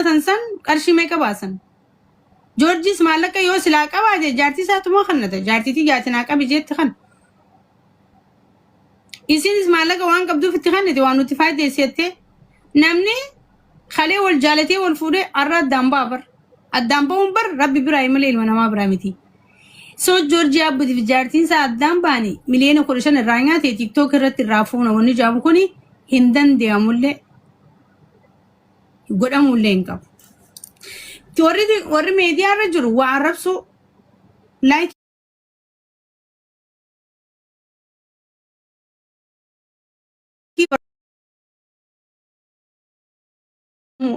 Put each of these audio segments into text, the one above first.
hojjetan san qarshii meeqa baasan? Joorjiis maallaqa yoo silaa qabaa jee jaartii isaatu moo kannata jaartiitii jaatin haa qabi jeetti kan. Isiinis maallaqa waan qabduuf itti kannite waan nuti faaydeessi jettee namni kalee wal jaalatee wal fuudhee arra addaan ba'a bar. Addaan ba'uun bar rabbi biraa malee ilma namaa biraa miti. So Joorjii Abbuti fi jaartiin isaa addaan ba'anii miliyoona kudha shan irraa nyaate tiktook irratti irraa fuuna wanni jaamu kuni hin danda'amullee. godhamuu illee hin qabu. Ti Warri warri meediyaa irra jiru waa arrabsuu like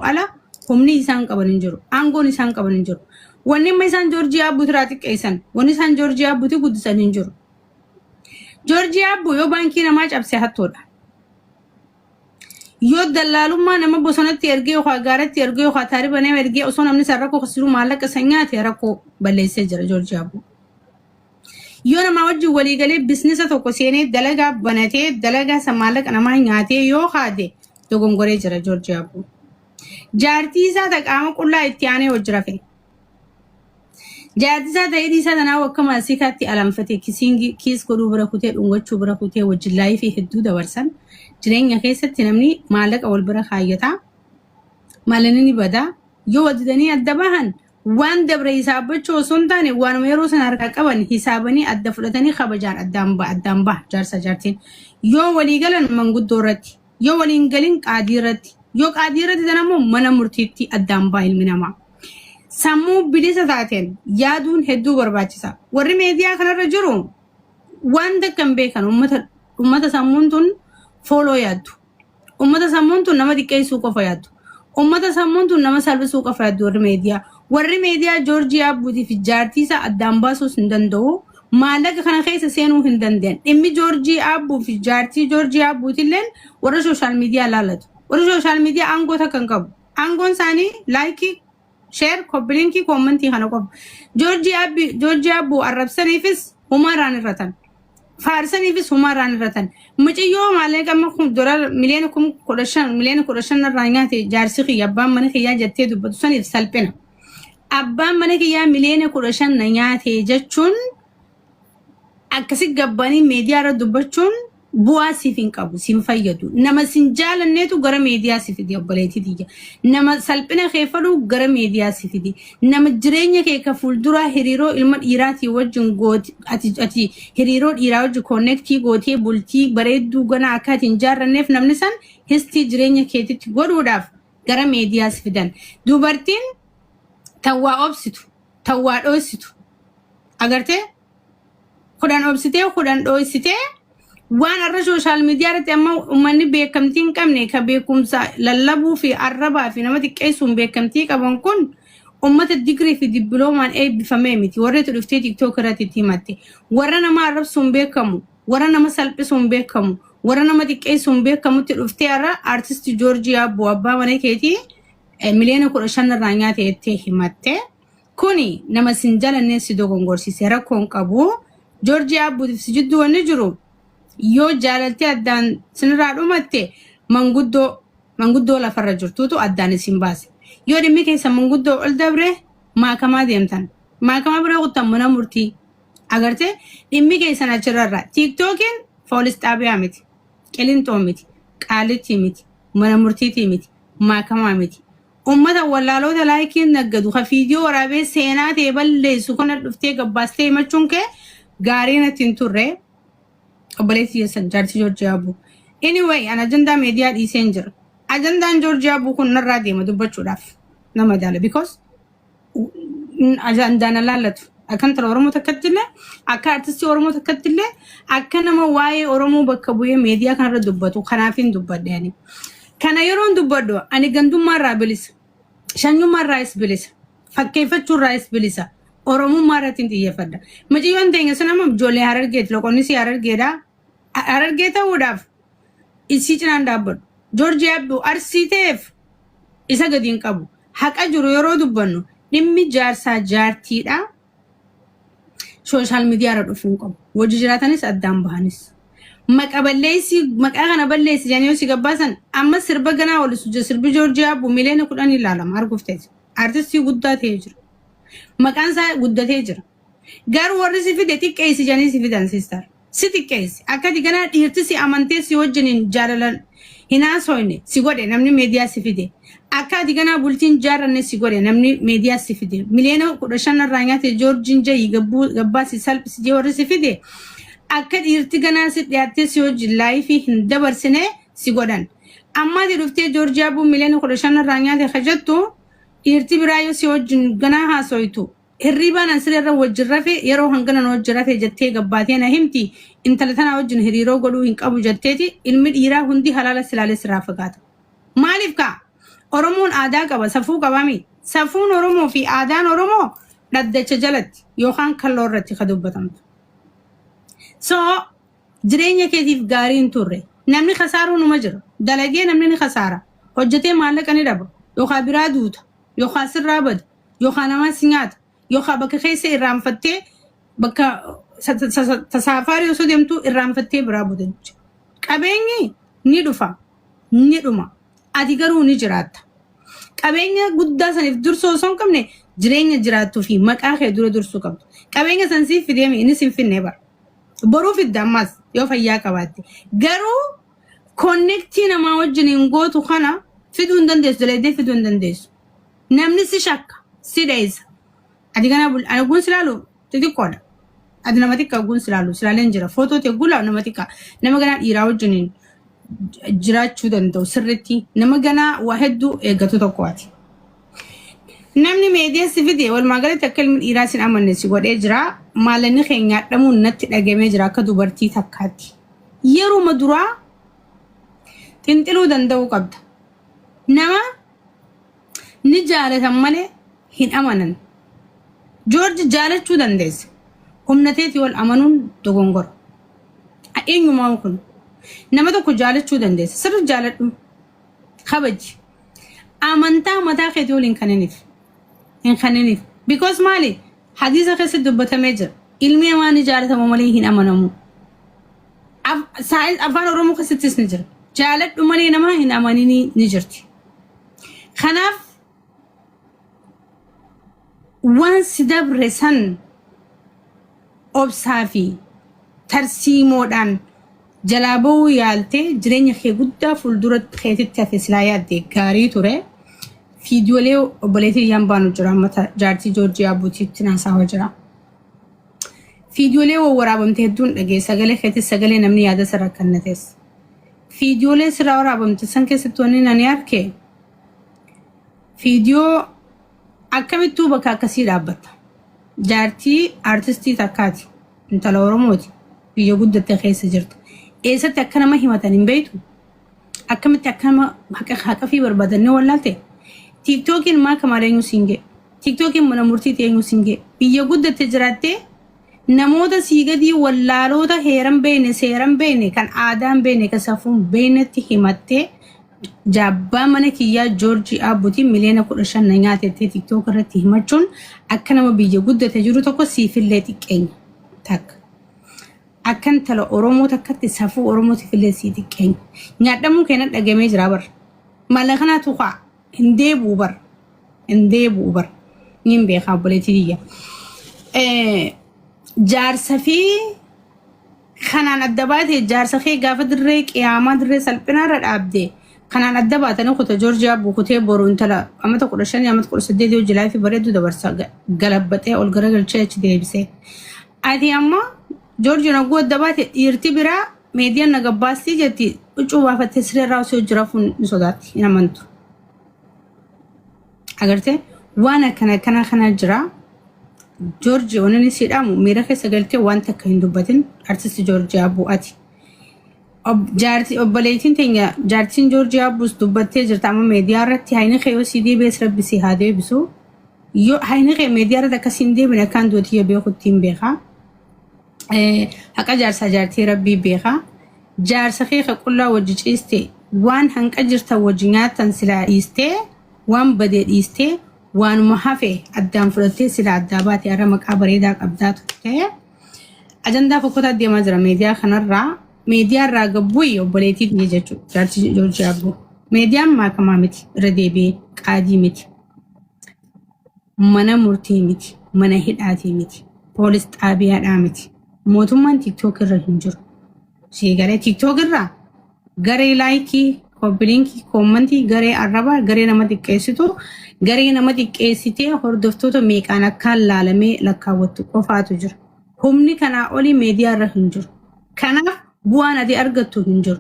ala humni isaan qaban hin jiru. Aangoon isaan qaban hin jiru. Wanni amma isaan Joorjiyaa Abbuu irraa xiqqeessan, wanni isaan Joorjiyaa Abbuuti guddisan hin jiru. Joorjiyaa Abbuu yoo baankii namaa cabse hattoodha. Yoo dallaalummaa nama bosonatti ergee yookaan gaaratti ergee yookaan taariba nama ergee osoo namni san rakkoo keessa jiru maallaqa san nyaate rakkoo balleessee jira Joorji Abbuu. Yoo namaa wajjin walii galee biiznesa tokko seenee dalagaa banatee dalagaa san maallaqa namaa nyaatee yoo haate dogongoree jira Joorji Abbuu. Jaartii isaa ta qaama qullaa itti aanee hojjirafe. Jaatisaa ta'ee dhiisaa tanaa akka maasiikaatti alanfatee kisiingi kiis godhuu bira kutee dhungachuu bira kutee wajjin laayifii hedduu dabarsan jireenya keessatti namni maallaqa wal bira kaayyata maalinni ni bada yoo waddidanii adda bahan waan dabre hisaabbachuu osoo hin taane waanuma yeroo sana harkaa qaban hisaabanii adda fudhatanii kabajaan addaan ba addaan baha jaarsa jaartiin yoo walii galan manguddoo irratti Yoo walii hin galin qaadii irratti. Yoo qaadii irratti ta'an ammoo mana murtiitti addaan ba'a ilmi namaa. Sammuu bilisa taateen yaaduun hedduu barbaachisa. Warri meediyaa kanarra jiru waan takka hin beekan ummata ummata sammuun tun fooloo yaaddu. Ummata sammuun tun nama xiqqeessuu qofa yaaddu. Uummata sammuun tun nama salphisuu qafraaddi warri meediyaa. Warri meediyaa Joorjii Abbuutii fi jaartii isaa addaan baasuus hin danda'u. Maallaqa kana keessa seenuu hin danda'an. Dhimmi Joorjii Abbuu fi jaartii Joorjii Abbuutilleen warra sooshaal miidiyaa laalatu. Warri sooshaal miidiyaa aangoo takka hin qabu. Aangoon isaanii laayikii Share, copy link, comment kana qofa. George Abbi, George Abbu arrabsaniifis humaa irraan irratan. Faarsaniifis humaa irraan irratan. Mucayyoo maalee qamma kun dolar miliyoona kum kudha shan miliyoona kudha shan irraa nyaate jaarsi kiyya abbaan mana kiyyaa jettee dubbatu saniif salphina. Abbaan mana kiyyaa miliyoona kudha shan na nyaate jechuun akkasi gabbanii meediyaa irra dubbachuun bu'aa siif hin qabu siin fayyadu nama sin jaalanneetu gara meediyaa si fidi obboleetii tiyya nama salphina kee fedhu gara meediyaa si fidi nama jireenya kee ka fuulduraa hiriiroo ilma dhiiraatii wajjin gooti ati ati hiriiroo dhiiraa wajjin koonnektii gootee bultii bareedduu ganaa akka ati hin jaarranneef namni san histii jireenya keetitti godhuudhaaf gara meediyaa si fidan dubartiin tan waa obsitu tan waa dhooysitu agartee kudhan obsitee kudhan dhooysitee waan arra sooshaal miidiyaa irratti amma uummanni beekamtii hin qabne ka beekumsa lallabuu fi arrabaa fi nama xiqqeessuun beekamtii qaban kun uummata digirii fi dippiloomaan eebbifamee miti warreetu dhuftee tiktook irratti itti himatte warra nama arrabsuun beekamu warra nama salphisuun beekamu warra nama xiqqeessuun beekamutti dhuftee arra aartisti joorjii abboo abbaa mana keetii eh, miliyoona kudha shan irraa nyaate jettee himatte. Kuni nama sin jalannee si dogongorsiise rakkoon qabu. Joorjii Abbuutiif si jidduu wanni jiru yoo jaalaltee addaan sinirraa dhumatte manguddoo manguddoo lafarra jirtuutu addaan isin baase. Yoo dhimmi keessa manguddoo ol dabre maakamaa deemtan. Maakamaa bira kuttan mana murtii. Agartee dhimmi keessan achirrarra. Tiiktookiin foolis xaabiyaa miti. Qilinxoo miti, Qaallittii miti, Mana Murtiitii miti, Maakamaa miti. Ummata wallaaloota laayikiin naggadu ka fiidiyoo waraabee seenaa tee balleessu kana dhuftee gabbaastee himachuun kee gaarii natti hin turre. Obboleessi keessan jaartii Joorjii Aabuu. Anyway, an ajandaa meediyaa dhiiseen jira. Ajandaan Joorjii Aabuu kun narraa deema dubbachuudhaaf na madaala because ajandaan alaallatu. Akkan tara Oromoo takkatti illee akka artistii Oromoo takkatti illee akka nama waa'ee Oromoo bakka bu'ee meediyaa kanarra dubbatu kanaafiin dubbadhe ani. Kana yeroon dubbadhu ani gandummaarraa bilisa. Shanyummaarraayis bilisa. Fakkeeffachuurraayis bilisa. Oromummaa irratti hin xiyyeeffadha. Mucayyoon teenya sun amma ijoollee harargeeti. Loqonnis harargeedha. Harargee ta'uudhaaf isii cinaan dhaabbadhu. Joorji yaaddu Arsii ta'eef isa gadi hin qabu. Haqa jiru yeroo dubbannu dhimmi jaarsaa jaartiidhaa sooshaal miidiyaarra dhufuu hin qabu. Wajji jiraatanis addaan bahanis. Maqa balleessii maqaa kana balleessi jedhanii yoo si gabbaasan amma sirba ganaa walisu jira sirbi Joorji Yaabbu miliyoona kudhan ilaalama arguuf ta'e jira. Artistii guddaa ta'ee jira. Maqaan isaa guddatee jira. Garuu warri si fide xiqqeessi jedhanii si fidan siistar. si xiqqeesse, akka ati ganaa dhiirti si amantee si wajjiniin jaalalan hin haasoyne si godhe namni media si fide, akka ati ganaa bultii hin jaarranne si godhe namni media si fide, miliyoona 15 narraa nyaate Joorjiin jayii gabbuu gabbaa si salphise jee warri si fide, akka dhiirti ganaa si dhiyaattee si wajjin laayifii hin dabarsine si godhan. Amma ati dhuftee Joorji Abbuu miliyoona 15 narraa nyaate ka jettu dhiirti biraa yoo si wajjin ganaa haasoytu, Hirriibaan an sireerra wajjin rafe yeroo hangana na wajjin rafe jettee gabbaatee na himti. Intala tanaa wajjin hiriiroo godhuu hin qabu jetteeti ilmi dhiiraa hundi halaala silaalee sirraa fagaata. Maaliif kaa? Oromoon aadaa qaba, safuu qabaami. Safuun Oromoo fi aadaan Oromoo dhaddacha jalatti yookaan kalloo irratti ka dubbatamtu. So jireenya keetiif gaarii hin turre. Namni kasaaruu numa jira. Dalagee namni ni kasaara. Hojjetee maallaqa ni dhaba. Yookaan biraa duuta. Yookaan sirraa bada. yookaan namaa si nyaata yookaan bakka keessa irraanfattee bakka sa- sa- sa- tasaafaarii osoo deemtu irraanfattee biraa buta jechuudha. Qabeenyi ni dhufa ni dhuma ati garuu ni jiraatta. Qabeenya guddaa saniif dursuu osoo hin qabne jireenya jiraattuu fi maqaa kee dura dursuu qabdu. Qabeenya san siif fidee mi innis hin finne bara. Boruu fidda ammas yoo fayyaa qabaatte. Garuu konnektii namaa wajjin hin gootu kana fiduu hin dandeessu dalaydee fiduu hin dandeessu. Namni si shakka, si dheessa. Ati kana bul- ani ogguun si laalu xixiqqoodha. Ati nama xiqqaa ogguun si laalu si laaleen jira. Footoo ta'e ogguun laalu nama xiqqaa. Nama ganaa dhiiraa wajjiniin j- jiraachuu danda'u sirriitti. Nama ganaa waa hedduu eeggatu tokko ati. Namni meediyaa si fide walumaa galatti akka ilmi dhiiraa sin amanne si godhee jira. Maalanni kee nyaadhamuun natti dhagamee jira akka dubartii takkaatti. Yeruma duraa xinxiluu danda'uu qabda. Nama Ni jaalatan malee hin amanan. Joorji jaalachuu dandeessa. Humna teetii ol amanuun dogongora. Eenyumaa kun? Nama tokko jaalachuu dandeessa. Sirri jaaladhu. Kabaji. Amantaa mataa keetii ol hin kaniniif. Hin kaniniif. Because maali? Hadiisa keessatti dubbatamee jira. Ilmi namaa ni jaalatama malee hin amanamu. Af- saayins- afaan oromoo keessattis ni jira jaaladhu malee namaa hin amaninii ni jirti kanaaf waan si dabre san obsaa fi tarsiimoodhaan jalaa ba'uu yaaltee jireenya kee guddaa fuuldura keetitti hafe silaa yaadde gaarii ture fiidiyoolee obboleetii yaan baanu jira ammata jaartii joorjiyaa buutiitti naasaawaa jira. Fiidiyoolee wawwaraabamte hedduun dhaga'e. Sagalee keetis sagalee namni yaada isa rakkannates. Fiidiyoolee sirraa waraabamte san keessatti wanni ani arke fiidiyoo akkamittuu bakka akkasii dhaabbatta. Jaartii artistii takkaati. Intala Oromooti. Biyya guddatte keessa jirta. Eessatti akka nama himatan hin beektu. Akkamitti akka nama haqa haqafii barbaadannee wallaalte. Tiiktookiin maa kamaaleenyuu siin ga'e. Tiktookiin mana murtiitti eenyu siin ga'e? Biyya guddatte jiraattee namoota sii gadii wallaaloota heeran beekne seeran beekne kan aadaan beekne kan safuun beeknetti himattee jaabbaa mana kiyyaa joorjii aabbutiin miliyoona kudha shan na nyaatettee tiktook irratti himachuun akka nama biyya guddate jiru tokko siifillee xiqqeenya takka. Akka intala Oromoo takkatti safuu Oromootiifillee sii xiqqeenya. Nyaadhamuu keenan dhagamee jira barra. Mala kanaatu ka'a. hin deebi'u bar hin deebi'u bar niin beekaa obboleetii biyya Eh, jaarsa fi kanaan adda baate jaarsa kee gaafa dirree qiyaamaa dirree salphinaa irra dhaabde kanaan adda baatanii kuta joorjiyaa bukutee boru intala amata kudha shanii amata kudha saddeet yoo jilaa fi bareedduu dabarsa ga- galabbaxee ol garagalchee achi deebisee ati amma Joorjiin hogguu adda baate dhiirti biraa meediyaan na gabbaastii jetti huccuu baafattee siree irraa osoo hojii rafuun ni sodaatti hin amantu. Agartee waan akkana akkana kana jira. Joorji waan inni siidhaamu miira keessa galtee waan takka hin dubbatin artisti Joorji Abbuu ati. Ob- jaarti- Obboleettiin teenya jaartiin Joorji Abbuus dubbattee jirta amma meediyaa irratti hayni kee yoo sii deebi'es rabbi sii haa deebisu. Yoo hayni kee meediyaa irratti akkasii hin deebine akkaan duuti yoo beekutti hin beekaa. Eh, haqa jaarsaa jaartii rabbii beeka jaarsa kee ka qullaa wajji ciiste waan hanqa jirtan wajji nyaatan silaa dhiistee waan badee dhiistee waanuma hafe addaan fudhattee silaa addaa baate har'a maqaa bareedaa qabdaa turte ajandaa fokkotaa deemaa jira meediyaa kanarraa meediyaa irraa gabbuyi obboleetii biyya jechuudha jaartii joorjii abboo meediyaan maakamaa miti irra deebi'ee qaadii miti mana murtii miti, mana hidhaatii miti, poolis xaabiyaadhaa miti. Mootummaan TikTok irra hin jiru. Sii galee TikTok irraa garee laayikii, koppiliinkii, koommantii, garee arrabaa, garee nama xiqqeessitu, garee nama xiqqeessitee hordoftoota meeqaan akkaan laalamee lakkaawwattu qofaatu jira. Humni kanaa olii meediyaa irra hin jiru. Kanaaf bu'aan ati argattu hin jiru.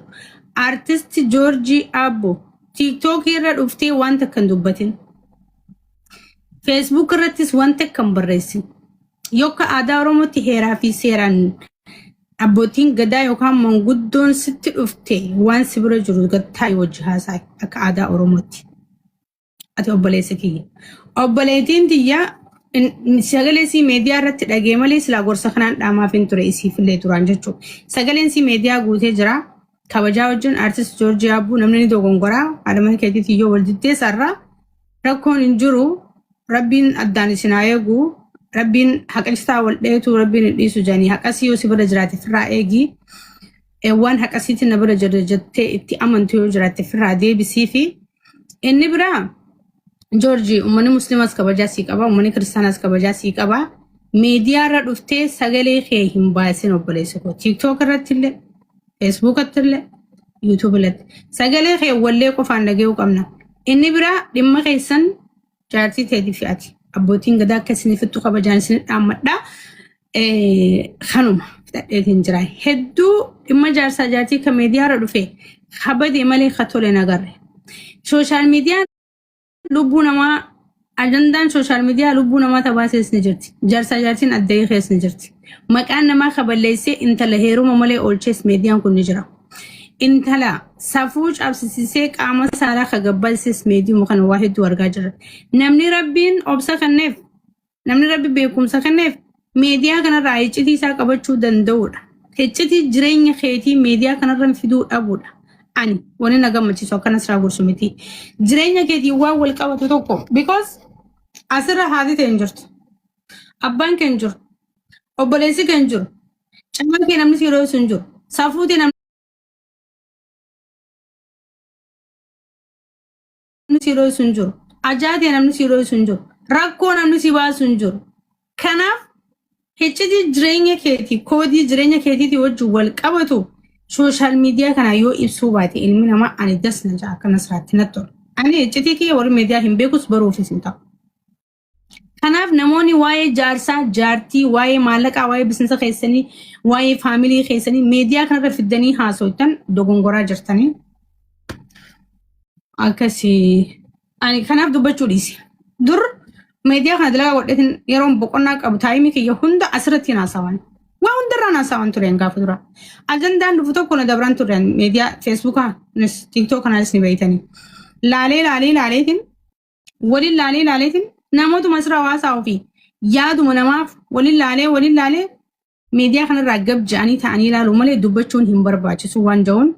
Artisti Joorjii Aabbo TikTok irra dhuftee waan takka hin dubbatin. Facebook irrattis wanta akka hin barreessin. Yokka aadaa Oromootti heeraa fi seeraan abbootiin gadaa yookaan manguddoon sitti dhufte waan si bira jiru gattaa wajji haasaa akka aadaa Oromootti. Ati obboleessa kiyya. Obboleettiin tiyya in- in- sagalee sii meediyaa irratti dhagee malee silaa gorsa kanaan dhaamaaf hin ture isiif illee turaan jechuudha. Sagaleen sii meediyaa guutee jira. Kabajaa wajjin artist Joorjii Abbuu namni ni dogongoraa. Haadha mana keetiitiin yoo wal diddeessa irraa Rakkoon hin jiru rabbiin addaan isin haa eegu rabbiin haqistaa wal dheetu rabbiin hin dhiisu janii haqasii yoo si bira jiraate firraa eegi Eh, waan haqasiitti na bira jira jettee itti amantu yoo jiraatte firraa deebisii fi inni biraa Joorji uummanni musliimaas kabajaa sii qaba uummanni kiristaanaas kabajaa sii qaba miidiyaa irra dhuftee sagalee kee hin baasin obboleessa koo tiiktook irratti illee Feesbuukatti illee YouTube irratti. Sagalee kee wallee qofaan dhaga'uu qabna. Inni biraa dhimma keessan jaartii teetii fi ati. Abbootiin gadaa akka isinifittu kabajaan isin dhaammadha. Eh, Kanuma fixadheetiin jira. Hedduu dhimma jaarsaa jaartii kan miidiyaarra dhufe kabade malee ka tole hin agarre. Sooshaal miidiyaan lubbuu namaa ajandaan sooshaal miidiyaa lubbuu namaa tabaa seesni jirti. Jaarsaa jaartiin addayii keessni jirti. Maqaan namaa kaballeessee intala heeruma malee oolchees miidiyaan kun ni jira. Intala safuu cabsisisee qaama saalaa kagabbalsis miidiyuma kana waa hedduu argaa jirra. Namni rabbiin obsa kanneef Namni rabbi beekumsa kenneef meediyaa kanarraa hiccitii isaa qabachuu danda'uudha. Hiccitii jireenya keetii meediyaa kanarran fiduu dhabuudha. Ani wani na gammachiisu akkana siraa gorsu miti. Jireenya keetii waan wal qabatu tokko because asirra haati ta'e hin jirtu. Abbaan kee hin jiru. Obboleessi kee hin jiru. Camaa kee namni si yeroo ibsu hin jiru. Safuu tee namni namni si dho'isu hin jiru. Ajaatee namni si dho'isu hin jiru. Rakkoo namni si baasu hin jiru. Kanaaf hiccitii jireenya keetii koodii jireenya keetiitii wajjin wal qabatu sooshaal miidiyaa kana yoo ibsuu baate ilmi namaa ani das na ja'a akka nasraatti natti tola. Ani hiccitii kiyya warri miidiyaa hin beekus baruufis hin ta'u. Kanaaf namoonni waa'ee jaarsaa, jaartii, waa'ee maallaqaa, waa'ee bisinsa keessanii, waa'ee faamilii keessanii meediyaa kanarra fiddanii haasoftan dogongoraa jirtanii. Akkasii ani kanaaf dubbachuu dhiise. Dur meediyaa kana dalagaa godhetin yeroon boqonnaa qabu taayimii kiyya hunda asirratti hin haasawan. Waa hundarraan haasawan tureen gaafa dura. Ajandaan dhufu tokko na dabran tureen meediyaa feesbuukaa, tiiktoo kanaanis ni beeytanii. Laalee laalee laaleetiin waliin laalee laaleetiin namootuma sirra hawaasaa ofii yaaduma namaaf waliin laalee waliin laalee miidiyaa kanarraa gab ja'anii ta'anii ilaaluu malee dubbachuun hin barbaachisu waan ja'uun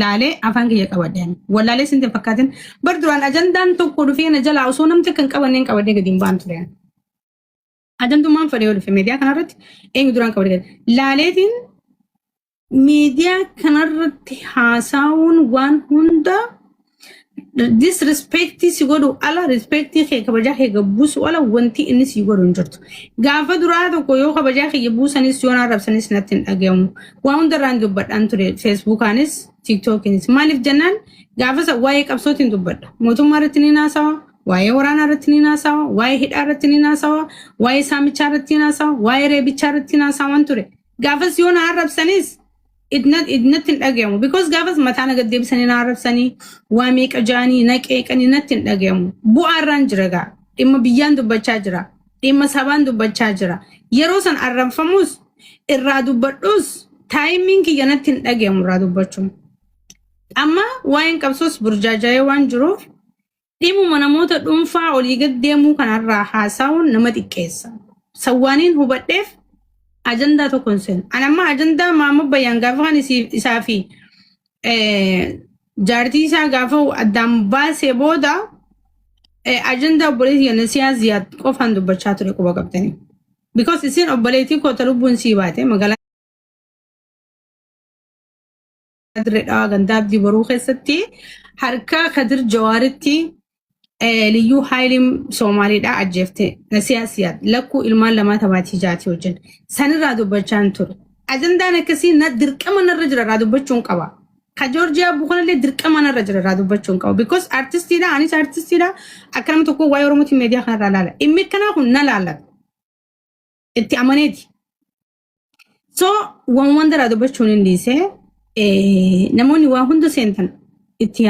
laalee afaan kiyya qabadeen wallaalee sinti fakkaatin bar duraan ajandaan tokko dhufee na jalaa osoo namti kan qabanneen qabadee gadi hin baan ture. Ajantummaan fedhee yoo dhufe miidiyaa kanarratti eenyu duraan qabate gadi. Laaleetiin miidiyaa kanarratti haasaawuun waan hunda disrespectii si godhu ala respectii kee kabajaa kee gabbuusu ala wanti inni si godhu hin jirtu. Gaafa duraa tokko yoo kabajaa kiyya buusanis yoo arrabsanis natti hin dhagahamu. Waa hundarraan dubbadhaan ture feesbuukaanis tiiktookiinis. Maaliif jennaan gaafa isa waa'ee qabsootiin dubbadha. Mootummaa irratti ni haasawa. Waa'ee waraanaa irratti ni naasawa, waa'ee hidhaa irratti ni naasawa, waa'ee saamichaa irratti ni naasawa, waa'ee reebichaa irratti ni naasawan ture. Gaafas yoo na arrabsanis idna- idnatti hin dhagayamu. Because gaafas mataa na gad deebisanii na arrabsanii, waa meeqa jaanii, na qeeqanii natti hin dhagayamu. Bu'aa irraan jira gaa. Dhimma biyyaan dubbachaa jira. Dhimma sabaan dubbachaa jira. Yeroo san arrabfamus irraa dubbadhus taayimiin kiyya natti hin dhagayamu irraa dubbachuun. Amma waa'een qabsoos burjaaja'ee waan jiruuf Dhimuma namoota dhuunfaa olii gad deemuu kanarraa haasa'uun nama xiqqeessa. Sawwaaniin hubadheef ajandaa tokko hin seenu. Ani amma ajandaa Maammoo Bayyaan gaafa kan isii- isaa fi eh, jaartii isaa gaafa addaan baasee booda eh, ajandaa obboleetii kenna siyaa ziyaad qofaan dubbachaa ture quba qabdanii. Because isin obboleetii koota lubbuun sii baate magaalaa Dirredhaa gandaa abdii boruu keessatti harkaa kadir jawaaritti eh, liyyuu haayiliin soomaaliidhaa ajjeefte nasiyaa siyaad lakkuu ilmaan lamaa tabaatii jaatii wajjin sanirraa dubbachaan ture ajandaan akkasii na dirqama narra jira irraa dubbachuun qaba ka joorjiyaa buukanallee dirqama narra jira irraa dubbachuun qaba because artistiidha anis artistiidha akka nama tokko waa'ee oromootiin meediyaa kanarraa laala dhimmi akkanaa kun na laallata itti amaneeti So waan waan daraa dubbachuun hin dhiise eh, namoonni waa hunda seentan itti